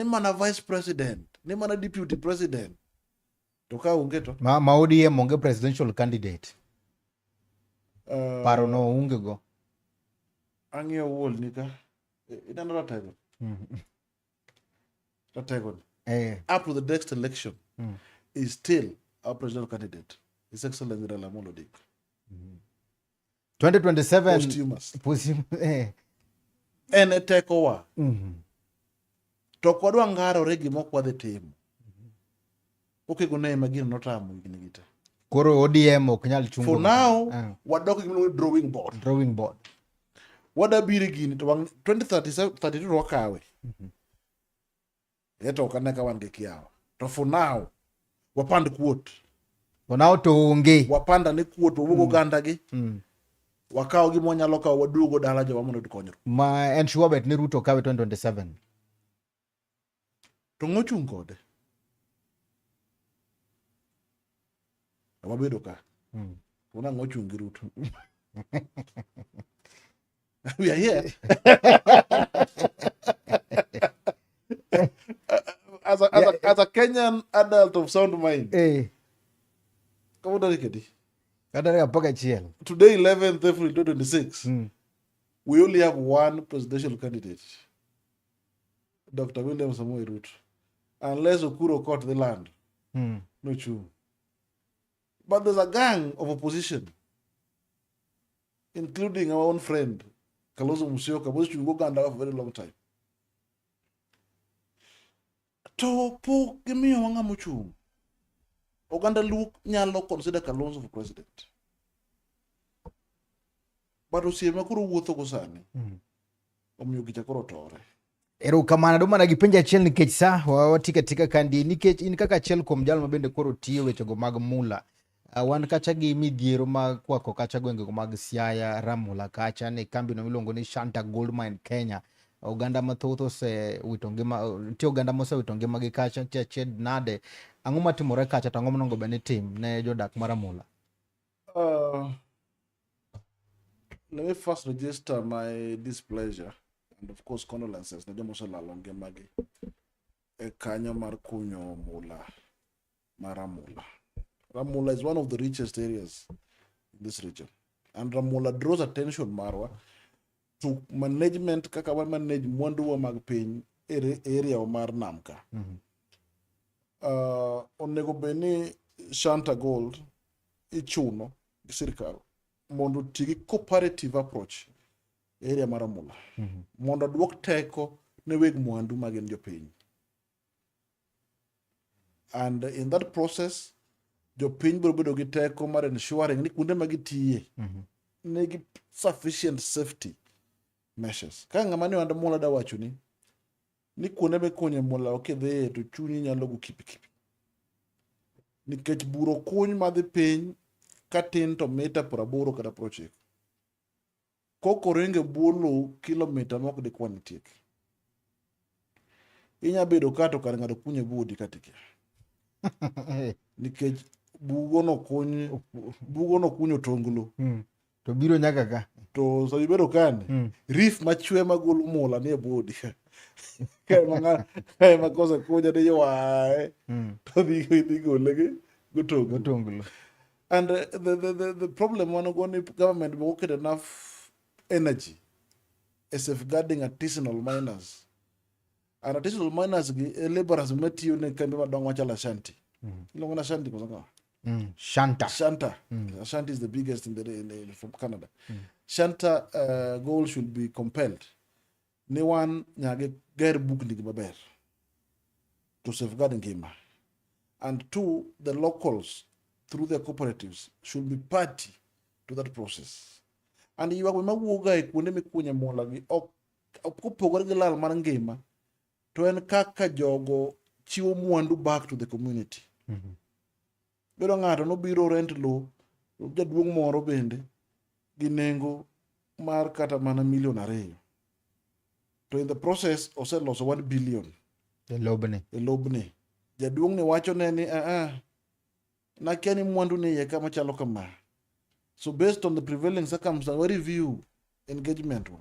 ni mana vice president ni mana deputy president to ka onge to ma, ma ODM onge presidential candidate uh, paro no onge go ang'iyo wuol ni ka ineno ratego mm. ratego ni eh. up to the next election mm. is still our presidential candidate his excellency Raila Amolo Odinga mm. 2027 eh. en e tekowa mm -hmm. to kwadwa ngarore gima ok wadhi timo okego ne ma gino notamo higni gi te koro odm ok nyal chungo for now uh. wadok gimiluongo drawing board drawing board wadabire gini to 2032 to wakawe mm -hmm. eto ok ane ka wan gi kiawa to for now wapand kuot for now to onge wapand ane kuot wawuog mm. oganda gi mm. wakawo gima wanyalo kawo waduogo dala jowa mondo oyud konyruok ma en sure bet ni ruto kawe 2027 to ng'ochung' kode Ama bedo ka. Mm. Una ngo chung' gi Ruto. We are here. as, a, as, yeah. a, as a Kenyan adult of sound mind. Eh. Hey. Kama udarikedi. Kadarika mpaka chiel. Today 11th April 2026. Mm. We only have one presidential candidate. Dr. William Samoei Ruto unless Okuro caught the land mm. no chung but there's a gang of opposition including our own friend Kalozo Musyoka both you go Uganda for a very long time to po gimiyo wanga mochung Oganda Luo nyalo consider Kalonzo for president but osiepe ma koro wuothogo sani mm. omiyo gicha koro tore erokamano adwa mana gi penjo achiel nikech sa wawati katika kandi nikech in kaka achiel kuom jalo mabende koro tiyo wechego mag mula uh, wan kacha gi midhiero mag kwako kacha gwengego mag siaya ramula kacha ni kambino miluongo ni shanta gold mine kenya oganda mathoth osewito ngima nitie oganda mosewito ngimagi kacha nitie achied nade ang'o matimore kacha to ang'o monego bed ni tim ne jodak mar amula Uh, let me first register my displeasure and of course condolences ne joma oselalo ngimagi e kanyo mar kunyo mula mar Ramula. Ramula is one of the richest areas in this region and Ramula draws attention marwa to management kaka wa manage mwanduwa mag piny e area mar nam ka mm -hmm. uh, onego bed ni Shanta Gold ichuno gi sirkal mondo oti gi cooperative approach e area mar Amula mm -hmm. mondo duok teko ne weg mwandu ma gin jopiny and in that process jopiny biro bedo gi teko mar ensuring ni kuonde ma gitiye mm -hmm. nigi sufficient safety measures ka ng'ama ni wanda mula da wacho ni ni kuonde mikunye mula kidhiye to chunyi nyalo go kipikipi nikech buro kuny madhi piny ka tin to mita praboro kata prochiko koko ringe bwo lowo kilomita mok dikwan tiek inya bedo ka to kar ng'ato kunye budi ka tikia nikech bugo no kuny bugo no kunyo tonglo hmm. to biro nyaka ka to sa ibedo kani mm. rif machwe magolo mula ni e bodi kae ma kose kunya ni ywae mm. to dhi gole gi gotonglo and uh, the, the, the, the problem wan go ni government be oket enough energy e safeguarding artisanal miners and artisanal miners gi e laborers matiyo ne kambi madongo machalo ashanti mm. iluongo ni ashanti koso Mm. Shanta. Shanta. Mm. Uh, Shanta is the biggest in the, in the from Canada. Mm. Shanta uh, goal should be compelled. Ne wan nyage ger book ndigi maber to safeguard ngima. And two, the locals through their cooperatives should be party to that process. And you are mawuoga e kuonde mikunye mola gi ok kopogore gi lal mar ngima to en kaka jogo chiwo mwandu back to the community mm -hmm. bedo ng'ato nobiro rent low jaduong' moro bende gi nengo mar kata mana milion ariyo to in the process oseloso one billion e lobni e lobni jaduong' ni wacho ne ni aa ah, ah, nakia ni mwandu ni iye kama chalo kama so based on the prevailing circumstance we review engagement wa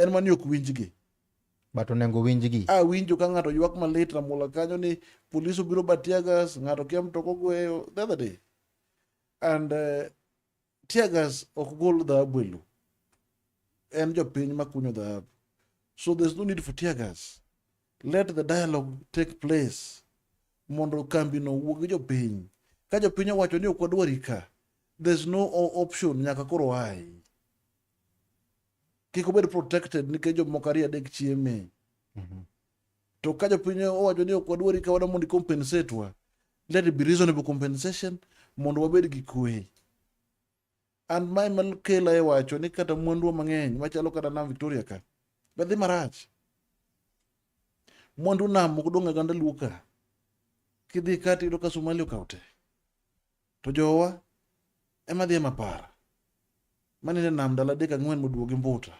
en mani ok winjgi but onego winjgi a winjo ka ng'ato ywak malit ramola kanyo ni polis obiro batiagas ng'ato kia mtoko gweyo the other day and uh, eh, tiagas ok gol dhahabu elu en jopiny makunyo dhahabu so there's no need for tiagas let the dialogue take place mondo kambi no wuog gi jopiny ka jopiny owacho ni ok wadwari ka there's no option nyaka koro ai kik obed protected nikech jomoko ariyo adek chieme mhm. to ka jopiny owacho ni ok wadwari ka wana mondo compensate wa let it be reasonable compensation mondo wabed gi kwe and mae makela e wacho ni kata mwanduwa mang'eny machalo kata nam victoria ka bedhi marach mwandu nam ok dong' aganda luo ka kidhi kati yudo ka somali okawo te To jowa ema dhi ema para. Mane nam dala dek ang'wen moduogi mbuta.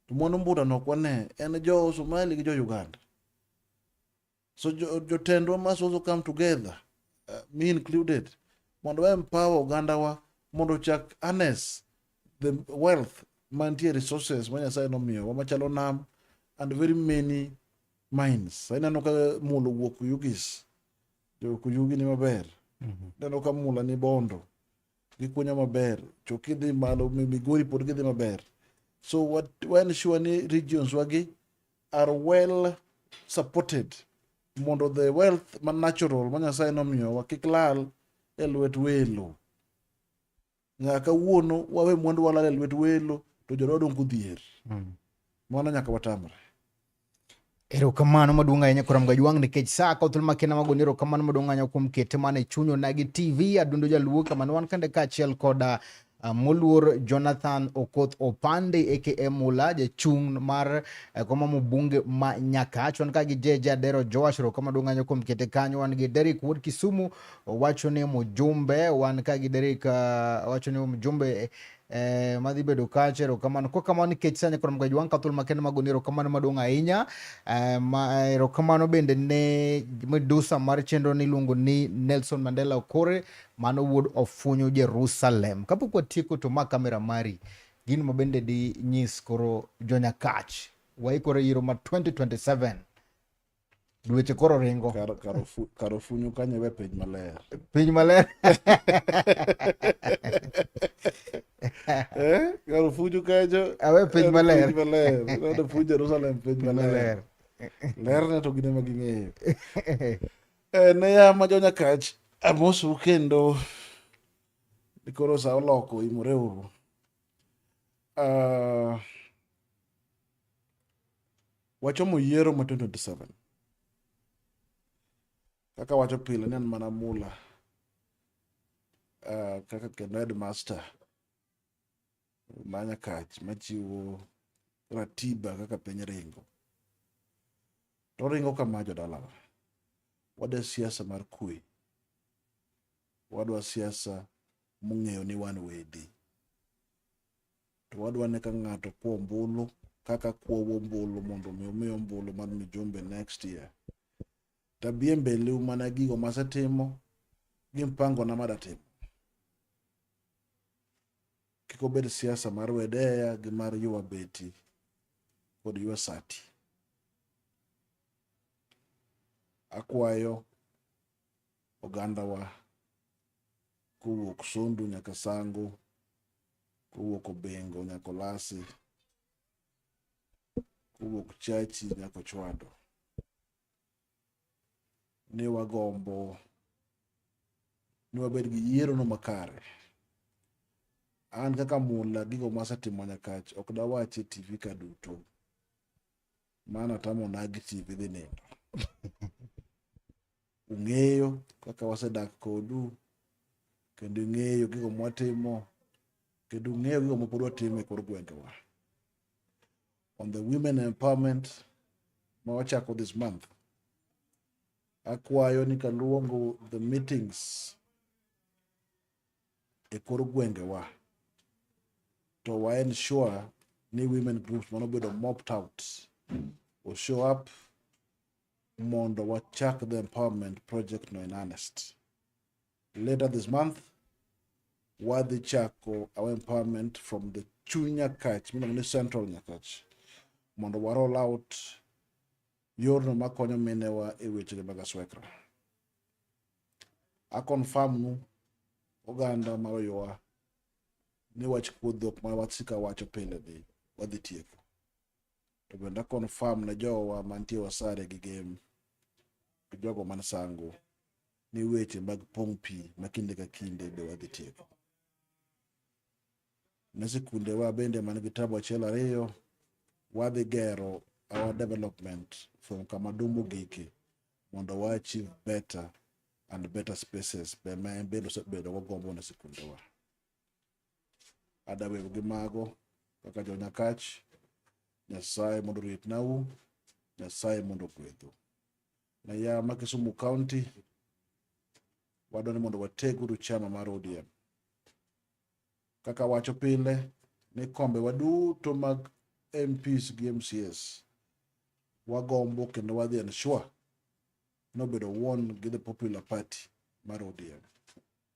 To mwandu mbuta no kwane en jo Somali gi jo Uganda. So jotendwa must also come together, uh, me included, mondo wa empower oganda wa mondo chak harness the wealth mantie resources ma Nyasaye nomiyowa machalo nam and very many mines. Ineno ka mulo wuok Ugis Jo Kuyugi ni maber. Mhm. Neno ka mula ni bondo. Gikunyo maber. Choki dhi malo, Migori pod gidhi maber. So what, when sure ni regions wagi are well supported mondo the wealth ma natural ma Nyasaye nomiyowa kik lal e lwet welo. nyaka kawuono wawe mwandu walal e lwet welo to jowa wadong' kodhier mm. mano nyaka watamre erokamano maduong' ahinya kuram gajwang' nikech sa ka thuolo makena magoni erokamano maduong' ahinya kuom kete mane chunyo nagi tv adundo jaluo kamano wan kande kaachiel koda Ah, moluor Jonathan Okoth Opande aka Mula jachung' mar eh, koma mbunge ma Nyakach wan ka gi Jeje Adero Joash Roko maduong' anyo kuom kete kanyo wan gi Derek Wood Kisumu Owacho ni mjumbe wan ka gi Derrick, uh, owacho ni mjumbe eh, madhi bedo kacha erokamano kwa kamano nikech sani koro mgaji wan kathul makende magoni erokamano maduong' ahinya eh, ma, eh, erokamano bende ne medusa mar chenro niluongo ni Nelson Mandela Okore mano wuod ofunyo Jerusalem kapok watieko to ma kamera mari gin ma bende di nyis koro jonyakach waikore yiro ma 2027 dweche koro ringo Kar- karofu- karofunyu kanye we piny maler piny maler Eh, karofunyu kanyo awe piny en maler piny maler Ineno fu jerusalem piny piny maler maler lerne to gine ma ging'eyo Eh, ne ya ma jonyakach amosu kendo ni koro sa oloko imore uru Ah, Wachomo yiero ma 2027. Kaka wacho pile ni an mana mula uh, kaka kendo headmaster manya kach machiwo ratiba kaka piny ringo. To ringo kama jodalawa. Wadwa siasa mar kwe. Wadwa siasa mung'eyo ni wan wedi. to wadwa ni ka ng'ato kwo ombulu kaka kwowo ombulu mondo mi omi ombulu mar mijumbe next year tabie mbele mana gigo masetimo gi mpango na madatimo kik obed siasa mar wedeya gi mar ywa beti kod ywa sati akwayo ogandawa kowuok Sondu nyaka Sango kowuok Obengo nyaka Olasi, kowuok Chachi nyaka Ochwado. Ne wagombo ni wabed gi yierono makare. An kaka mula gigo masetimo nyakach ok dawach e TV ka duto. Mano atamo nagi TV dhi nindo. Ung'eyo kaka wasedak kodu, kendo ing'eyo gigo mwatimo, kendo ung'eyo gigo mapod watimo e kor gwengewa. On the women empowerment ma wachako this month, akwayo ni kaluongo the meetings e kor gwengewa to wa ensure ni women groups mano bedo mopped out o show up mondo wachak the empowerment project no in earnest. Later this month, wadhi chako our empowerment from the chuny Nyakach, miluongo ni Central Nyakach, mondo wa roll out yorno makonyo minewa e wechege mag aswekra. Akonfam nu oganda ma oyowa ni wach kuodhok ma wasika wacho pile ni wadhi tieko. to bende akonfam ne jowa mantie wasare gi gem gi jogo man sango ni weche mag pong' pi ma kinde ka kinde be wadhi tieko ne sikundewa bende man gi tabu achiel ariyo wadhi gero our development from kama dumbo gike mondo wa achieve better and better spaces be ma en bedo osebedo wagombo ne sikundewa Adawero gi mago kaka jonyakach, Nyasaye mondo oritnau, Nyasaye mondo ogwedhu. Na ya ma Kisumu County, wadwa ni mondo wateguru chama mar ODM. Kaka wacho pile ni kombe waduto mag MPs gi MCS wagombo kendo wadhi ensure nobedo won gi the popular party mar ODM.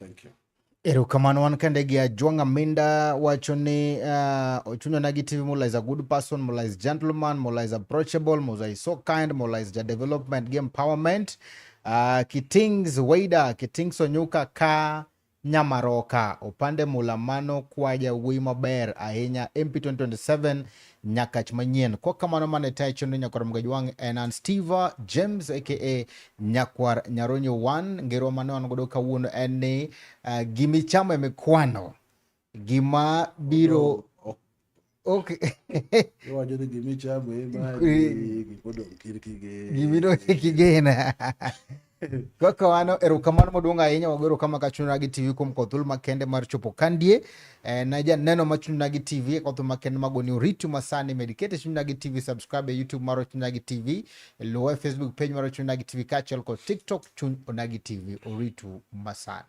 Thank you. Erokamano wan kende gi Ajwang' Aminda wacho ni uh, ah, ochunyona gi TV Mola is a good person, Mola is gentleman, Mola is approachable, Mola is so kind, Mola is ja development gi empowerment. Uh, Kitings Waida, Kitings Onyuka ka Nyamaroka, opande Mola mano kwa jawuoyi maber ahinya MP 2027 Nyakach manyien. Kwa kamano mane tayo chenro nyakwar mga jwang' en an Steve James aka nyakwar Nyaronyo wan ngerwa mane wan godo kawuono en ni uh, gima ichamo ema ikwano gima biro Okay. Iwacho ni gima ichamo ema gimidong' kigena. Kaka wano erokamano maduong' ahinya wago erokamano ka chunywa gi TV kuom kod thuolo makende mar chopo kandie eh, na janeno ma chunywa gi TV kod thuolo makende mago ni oriti masani med kete chunywa gi TV subscribe e YouTube mar chunywa gi TV luw e Facebook page mar chunywa gi TV kaachiel kod TikTok chuny onagi TV oritu masani